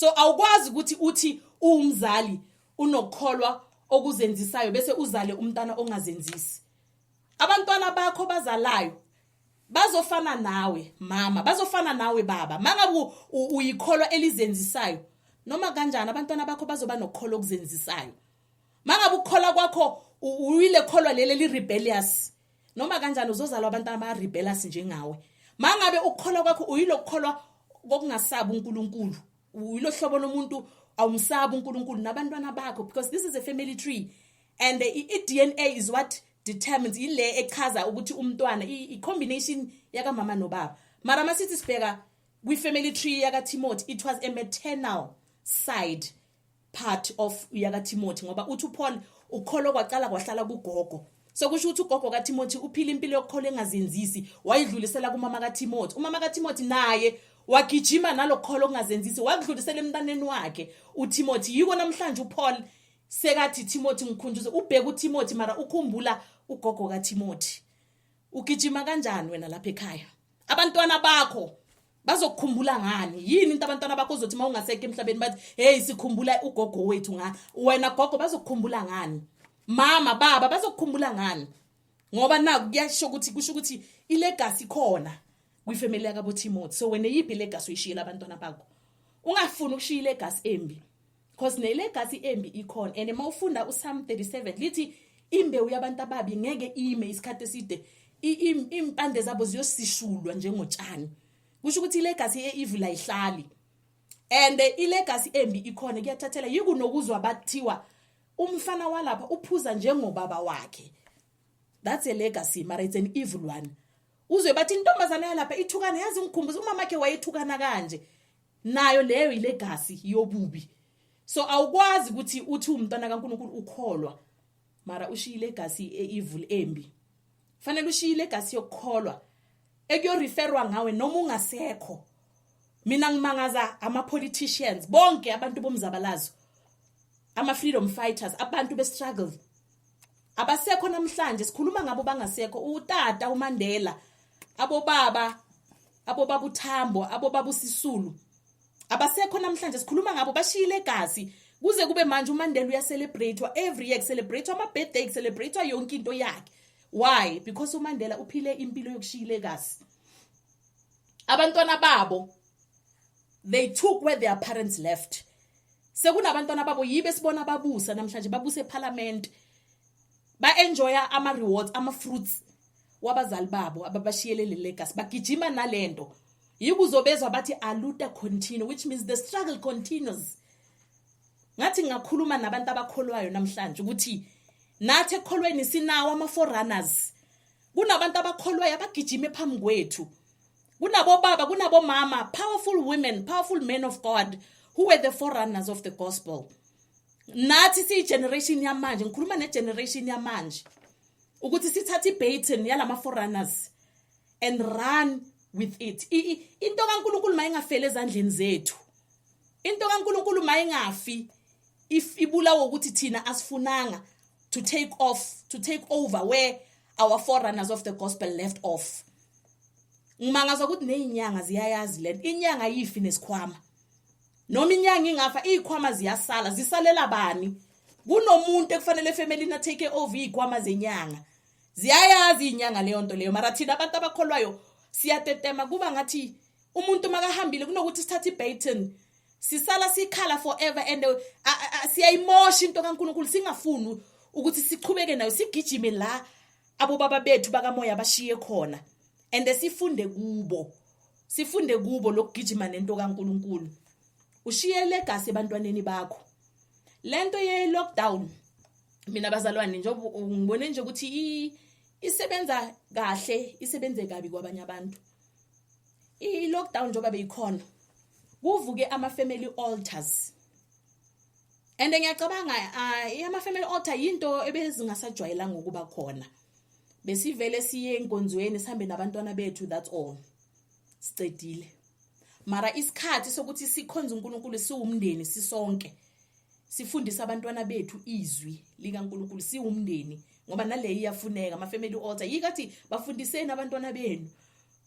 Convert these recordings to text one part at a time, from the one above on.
so awukwazi ukuthi uthi uwumzali unokukholwa okuzenzisayo bese uzale umntana ongazenzisi abantwana bakho bazalayo bazofana nawe mama bazofana nawe baba mangabe uyikholwa elizenzisayo noma kanjani abantwana bakho bazoba nokukholo okuzenzisayo mangabe ukukhola kwakho uyile kholwa leli li rebellious noma kanjani uzozalwa abantu abarebelous njengawe mangabe ukukholwa kwakho uyilokukholwa kokungasabi uNkulunkulu uyilohlobo lomuntu awumsabi uNkulunkulu nabantwana bakho because this is a family tree and the DNA is what determines ile echaza ukuthi umntwana i combination yaka mama nobaba mara masithi sibheka kwi family tree yaka Timothy it was a maternal side part of yakaTimothy ngoba uthi uPaul ukholo kwaqala kwahlala kugogo sekusho ukuthi ugogo kaTimothy uphila impilo yokukholo engazenzisi wayidlulisela kumama kaTimothy umama kaTimothy naye wagijima nalokholo okungazenzisi wakudlulisela emntaneni wakhe uTimothy yiko namhlanje uPaul sekathi Timothy ngikhunjuze ubheka uTimothy mara ukhumbula ugogo kaTimothy ugijima kanjani wena lapha ekhaya abantwana bakho bazokukhumbula ngani yini into abantwana bakho uzothi uma ungaseke emhlabeni bathi heyi sikhumbula ugogo wethu nga wena gogo bazokukhumbula ngani mama baba bazokukhumbula ngani ngoba naku kuyasho ukuthi kusho ukuthi ilegacy khona kwifamily yakabo Timothy so wena yiphi ilegacy uyishiyela abantwana bakho ungafuni ukushiya ilegacy embi cause nelegasi embi ikhona and uma ufunda uSam 37 lithi imbewu yabantu ababi ngeke ime isikhathi eside impande zabo ziyosishulwa njengotshani kusho ukuthi ilegacy eevil ayihlali and ilegacy embi ikhona kuyathathela yikunokuzwa bathiwa umfana walapha uphuza njengobaba wakhe that's a legacy mara it's an evil one uzwe bathi intombazana yalapha ithukana yazi ngikhumbuza umama wakhe wayethukana kanje nayo leyo ilegacy yobubi so awukwazi ukuthi uthi umntwana kaNkuluNkulu ukholwa mara ushiya ilegacy eevil embi fanele ushiya ilegacy yokukholwa ekuyoreferwa ngawe noma ungasekho mina ngimangaza ama politicians bonke abantu bomzabalazo ama freedom fighters abantu be struggle abasekho namhlanje sikhuluma ngabo bangasekho utata uMandela abobaba abobaba uthambo abobaba usisulu abasekho namhlanje sikhuluma ngabo bashiyile egazi kuze kube manje umandela uyacelebrate-wa every year kucelebrate-wa ama-birthday kucelebrate-wa yonke into yakhe why because umandela uphile impilo yokushiyile egazi abantwana babo they took where their parents left sekunabantwana babo yibe sibona babusa namhlanje babuse ephalamende ba enjoya ama rewards ama fruits wabazali babo ababashiyele le legacy bagijima nalento yikuzobezwa bathi aluta continue which means the struggle continues ngathi ngakhuluma nabantu abakholwayo namhlanje ukuthi nathi ekholweni sinawo ama forerunners kunabantu abakholwayo abagijime phambi kwethu kunabobaba kunabomama powerful women powerful men of god who were the forerunners of the gospel nathi siyigeneration yamanje ngikhuluma negeneration yamanje ukuthi sithathe ibaton yalama foreigners and run with it into kaNkuluNkulu mayingafeli ezandleni zethu into kaNkuluNkulu mayingafi if ibulawo ukuthi thina asifunanga to take off to take over where our forerunners of the gospel left off ngimangazwa ukuthi nezinyanga ziyayazi lento inyanga yifi nesikhwama noma inyanga ingafa izikhwama ziyasala zisalela bani kunomuntu ekufanele efemelini atake over izikhwama zenyanga ziyayazi izinyanga leyo nto leyo mara thina abantu abakholwayo siyatetema kuba ngathi umuntu makahambile kunokuthi sithathe ibaton sisala sikhala forever and uh, uh, uh, siyayimosha into kaNkuluNkulu singafuni ukuthi sichubeke nayo sigijime la abobaba bethu bakamoya bashiye khona and sifunde kubo sifunde kubo lokugijima nento kaNkuluNkulu ushiye legacy ebantwaneni bakho lento ye lockdown mina bazalwane njengoba ngibone nje ukuthi isebenza kahle isebenze kabi kwabanye abantu i lockdown njengoba beyikhona kuvuke ama family altars and ngiyacabanga ama family altar into ebezingasajwayelanga ukuba khona besivele siye enkonzweni sihambe nabantwana bethu that's all sicedile mara isikhathi sokuthi sikhonze uNkulunkulu siwumndeni sisonke sifundisa abantwana bethu izwi likaNkulunkulu siwumndeni ngoba naleyo iyafuneka ama family altar yikathi bafundiseni abantwana benu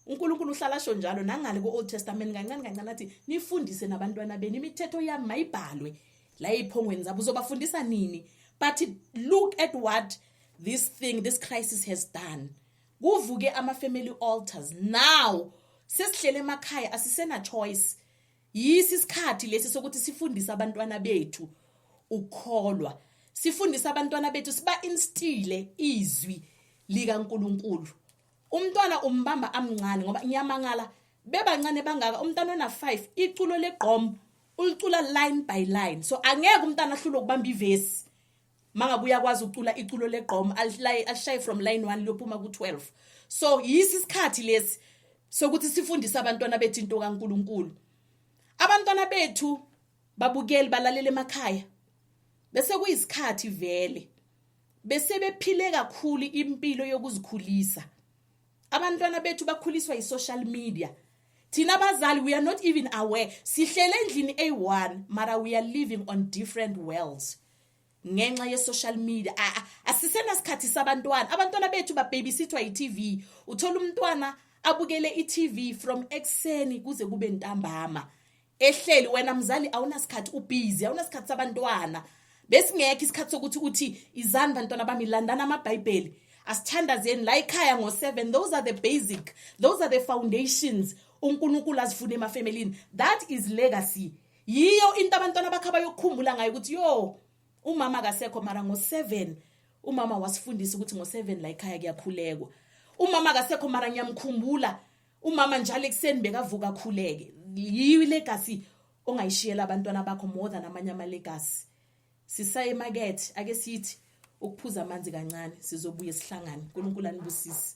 uNkulunkulu uhlala sho njalo nangale ku-Old Testament kancane kancane athi nifundise nabantwana benu imithetho yami mayibhalwe la ephongweni zabo uzobafundisa nini but look at what this thing this crisis has done kuvuke ama family altars now sesihlele emakhaya asisena choice yisi isikhathi lesi sokuthi sifundise abantwana bethu ukukholwa sifundise abantwana bethu siba instile izwi lika uNkulunkulu umntwana umbamba amncane ngoba ngiyamangala bebancane bangaka umntana ona 5 iculo legqom ulicula line by line so angeke umntana ahlule ukubamba ivesi mangabe uyakwazi ukucula iculo legqom alishaye from line 1 liyophuma ku-12 so yisi isikhathi lesi sokuthi sifundise abantwana bethu into kaNkuluNkulu abantwana bethu babukeli balalele emakhaya bese kuyisikhathi vele bese bephile kakhulu impilo yokuzikhulisa abantwana bethu bakhuliswa yi-social media thina abazali we are not even aware sihlele endlini eyi-one mara we are living on different worlds ngenxa ye-social media asisena sikhathi sabantwana abantwana bethu bababysithwa yi-tv uthola umntwana abukele i-tv from ekuseni kuze kube ntambama ehleli wena mzali awunasikhathi ubhizi awunasikhathi sabantwana besingekho isikhathi sokuthi uthi izani bantwana bami landani amabhayibheli asithandazeni la ekhaya ngo-seven those are the basic those are the foundations unkulunkulu azifune emafemelini that is legacy yiyo into abantwana bakhe abayokukhumbula ngayo ukuthi yo umama akasekho mara ngo-seven umama wasifundisa ukuthi ngo-seven la ekhaya kuyakhulekwa umama akasekho mara ngiyamkhumbula umama njalo ekuseni bekavuka akhuleke yiyo ilegasi ongayishiyela abantwana bakho more than amanye amalegasi sisaye emakethe ake sithi ukuphuza amanzi kancane sizobuye sihlangane unkulunkulu anibusise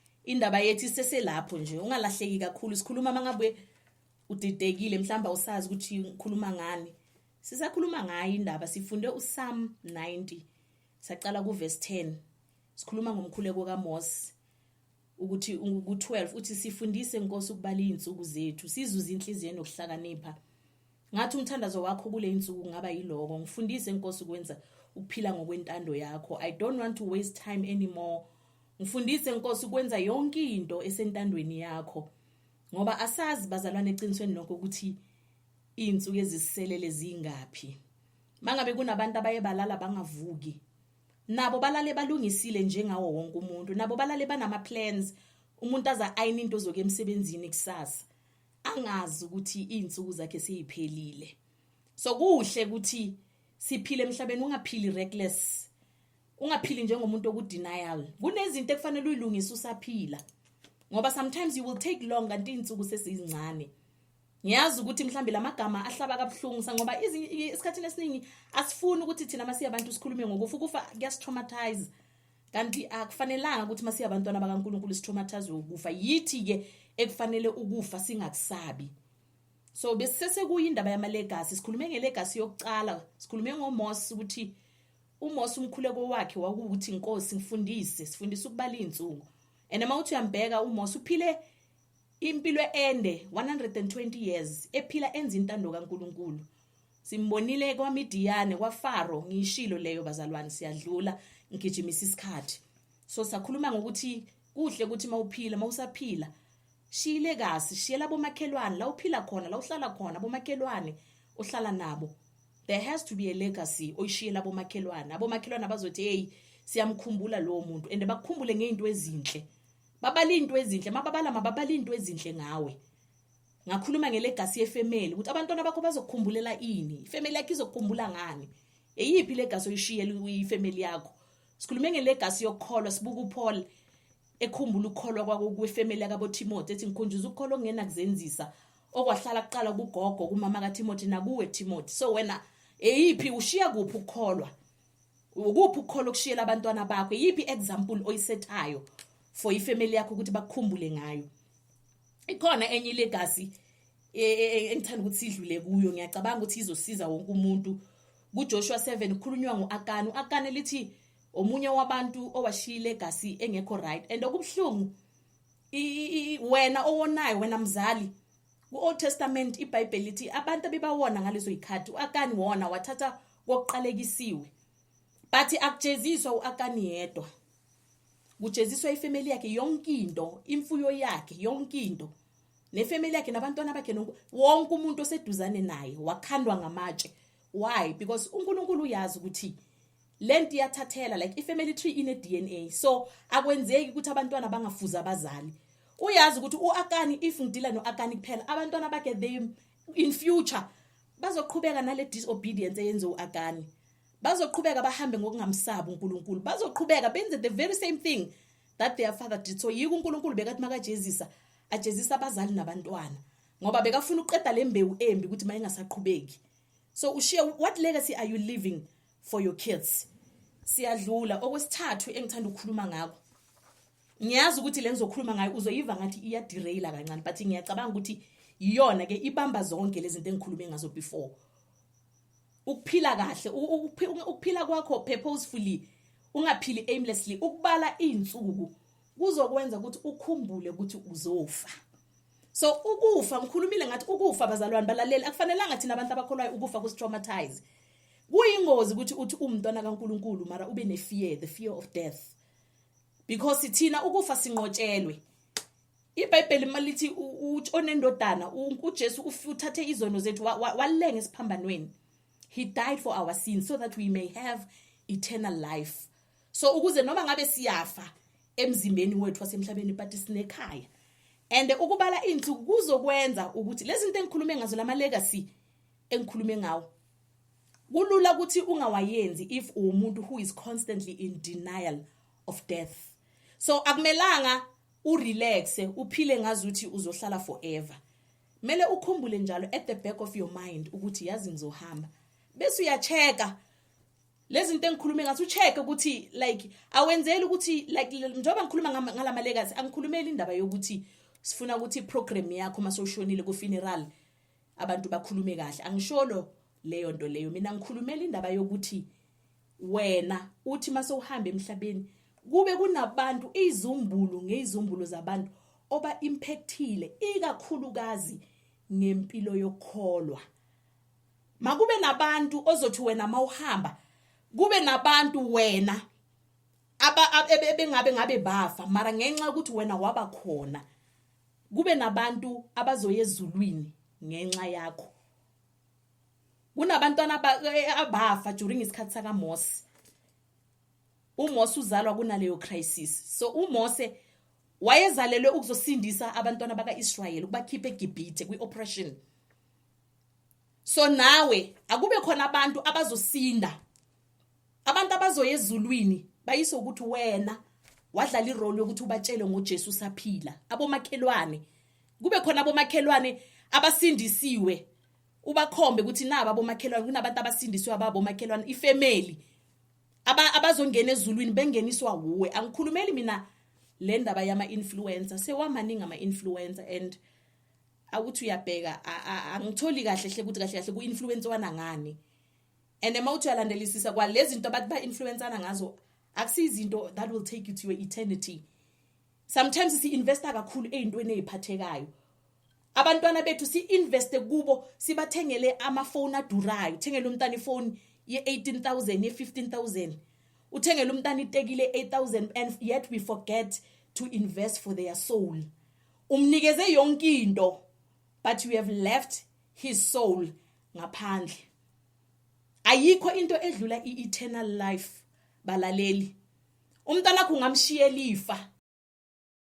indaba yethu iseselapho nje ungalahleki kakhulu sikhuluma uma ngabe udidekile mhlawumbe awusazi ukuthi ngikhuluma ngani sisakhuluma ngayo indaba sifunde uSam 90 saqala kuverse 10 sikhuluma ngomkhuleko kaMose ukuthi ku12 uthi sifundise inkosi ukubala izinsuku zethu sizuze inhliziyo nokuhlakanipha Ngathi umthandazo wakho kule insuku ngaba yiloko ngifundise inkosi ukwenza ukuphila ngokwentando yakho i don't want to waste time anymore ngifundise inkosi ukwenza yonke into esentandweni yakho ngoba asazi bazalwane eqinisweni lokho ukuthi izinsuku eziselele zingaphi mangabe kunabantu abaye balala bangavuki nabo balale balungisile njengawo wonke umuntu nabo balale banama plans umuntu aza ayina into zoke emsebenzini kusasa angazi ukuthi izinsuku zakhe seyiphelile so kuhle ukuthi siphile emhlabeni ungaphili reckless ungaphili njengomuntu okudenial kunezinto ekufanele uyilungise usaphila ngoba sometimes you will take long kanti izinsuku sesizincane ngiyazi ukuthi mhlambe lamagama ahlaba kabuhlungu sangoba isikhathini esiningi asifuni ukuthi thina masiyabantu sikhulume ngokufa ukufa kuyastraumatise kanti akufanelanga ukuthi masiya abantwana bakaNkuluNkulu sithomathazwe ukufa yithi ke ekufanele ukufa singakusabi so besisese kuyindaba yama legacy sikhulume nge legacy yokucala sikhulume ngoMose ukuthi uMose umkhuleko wakhe wakuthi inkosi ngifundise sifundisa ukubala izinsuku and uma uthi uyambheka uMose uphile impilo ende 120 years ephila enza intando kaNkuluNkulu Simbonile kwaMidiyane kwaFaro ngiyishilo leyo bazalwane siyadlula ngigijimisa isikhathi. So sakhuluma ngokuthi kuhle ukuthi mawuphila mawusaphila shiyile kasi shiyela bomakhelwane la uphila khona la uhlala khona bomakhelwane ohlala nabo there has to be a legacy oyishiyela bomakhelwane abomakhelwane abazothi hey siyamkhumbula lowo muntu and bakukhumbule ngeinto ezinhle babala into ezinhle mababala mababala into ezinhle ngawe ngakhuluma ngelegasi yefemeli ukuthi abantwana bakho bazokukhumbulela ini ifemeli yakho izokukhumbula ngani eyiphi legasi oyishiyela uyifemeli yakho sikhulume ngelegasi yokukholwa sibuka uPaul ekhumbula ukukholwa kwakwefemeli yakaboTimothy ethi ngikhunjuza ukukholwa okungena kuzenzisa okwahlala kuqala kugogo kumama kaTimothy nakuwe Timothy so wena eyiphi ushiya kuphi ukukholwa ukuphi ukukholwa okushiyela abantwana bakho yiphi example oyisethayo for ifamily yakho ukuthi bakukhumbule ngayo ikhona enye ilegacy e, e, e, engithanda ukuthi idlule kuyo ngiyacabanga ukuthi izosiza wonke umuntu kuJoshua 7 kukhulunywa ngoAkani uAkani lithi omunye wabantu owashiya ilegacy engekho right and okubhlungu wena owonayo wena mzali ku-old testament ibhayibheli lithi abantu abebawona ngalezo yikhathi u-akani wona wathatha kokuqalekisiwe but akujeziswa u-akani yedwa kujeziswa ifamily yakhe yonke into imfuyo yakhe yonke into nefamily yakhe nabantwana bakhe nonke wonke umuntu oseduzane naye wakhandwa ngamatshe why because uNkulunkulu uyazi ukuthi lento iyathathela like ifamily tree ine DNA so akwenzeki ukuthi abantwana bangafuza abazali uyazi ukuthi uAkani if ngidila noAkani kuphela abantwana bakhe they in future bazoqhubeka nale disobedience eyenze uAkani bazoqhubeka bahambe ngokungamsabi uNkulunkulu bazoqhubeka benze the very same thing that their father did so yiko uNkulunkulu bekathi makajezisa ajezisa abazali nabantwana ngoba bekafuna ukuqeda lembewu embi ukuthi mayingasaqhubeki so ushiye what legacy are you leaving for your kids siyadlula okwesithathu engithanda ukukhuluma ngakho ngiyazi ukuthi le ngizokhuluma ngayo uzoyiva ngathi iyaderaila kancane but ngiyacabanga ukuthi iyona ke ibamba zonke lezi zinto engikhulume ngazo before ukuphila kahle ukuphila kwakho purposefully ungaphili aimlessly ukubala izinsuku kuzokwenza ukuthi ukhumbule ukuthi uzofa so ukufa ngikhulumile ngathi ukufa bazalwane balaleli akufanelanga thina abantu abakholwayo ukufa kusitraumatize kuyingozi ukuthi uthi umntwana kaNkuluNkulu mara ube nefear the fear of death because thina ukufa sinqotshelwe ibhayibheli uma lithi onendodana ujesu uthathe izono zethu walenga esiphambanweni he died for our sins so that we may have eternal life so ukuze noma ngabe siyafa emzimbeni wethu wasemhlabeni but sinekhaya and ukubala insuku kuzokwenza ukuthi lezi zinto engikhulume ngazo lama legacy engikhulume ngawo kulula ukuthi ungawayenzi if uwumuntu who is constantly in denial of death so akumelanga u relaxe uphile ngazuthi uzohlala forever mele ukhumbule njalo at the back of your mind ukuthi yazi ngizohamba bese uyacheka lezinto engikhulume ngathi ucheck ukuthi like awenzeli ukuthi like njengoba ngikhuluma ngalama legacy angikhulumeli indaba yokuthi sifuna ukuthi program yakho masoshonile ku funeral abantu bakhulume kahle angisholo leyo nto leyo mina ngikhulumela indaba yokuthi wena uthi mase uhamba emhlabeni kube kunabantu izumbulu ngezizumbulu zabantu oba impactile ikakhulukazi ngempilo yokholwa makube nabantu ozothi wena mawuhamba kube nabantu wena aba ebengabe ngabe bafa mara ngenxa ukuthi wena waba khona kube nabantu abazoya ezulwini ngenxa yakho kunabantwana eh, abafa during isikhathi sakamose umose uzalwa kunaleyo crisis so umose wayezalelwe ukuzosindisa abantwana baka-israyeli ukubakhipha egibhithe kwi-operation so nawe akube khona abantu abazosinda abantu abazoya ezulwini bayise ukuthi wena wadlala irole yokuthi ubatshele ngoJesu saphila abomakhelwane kube khona abomakhelwane abasindisiwe ubakhombe ukuthi naba abomakhelwane kunabantu abasindiswe ababomakhelwane ifamily aba abazongena ezulwini bengeniswa wuwe angikhulumeli mina le ndaba yama influencer sewamaningi ama influencer and awuthi uyabheka angitholi kahle hle ukuthi kahle kahle ku influencer wana ngani and uma uthi uyalandelisisa kwalezi zinto abathi ba influencer ngazo akusizinto that will take you to your eternity sometimes si investa kakhulu ezintweni eziphathekayo abantwana bethu si investe kubo sibathengele ama phone adurayo thengele umntana ifone ye 18000 ye 15000 uthengele umntana itekile 8000 and yet we forget to invest for their soul umnikeze yonke into but you have left his soul ngaphandle ayikho into edlula ieternal life balaleli umntanakho ungamshiyela ifa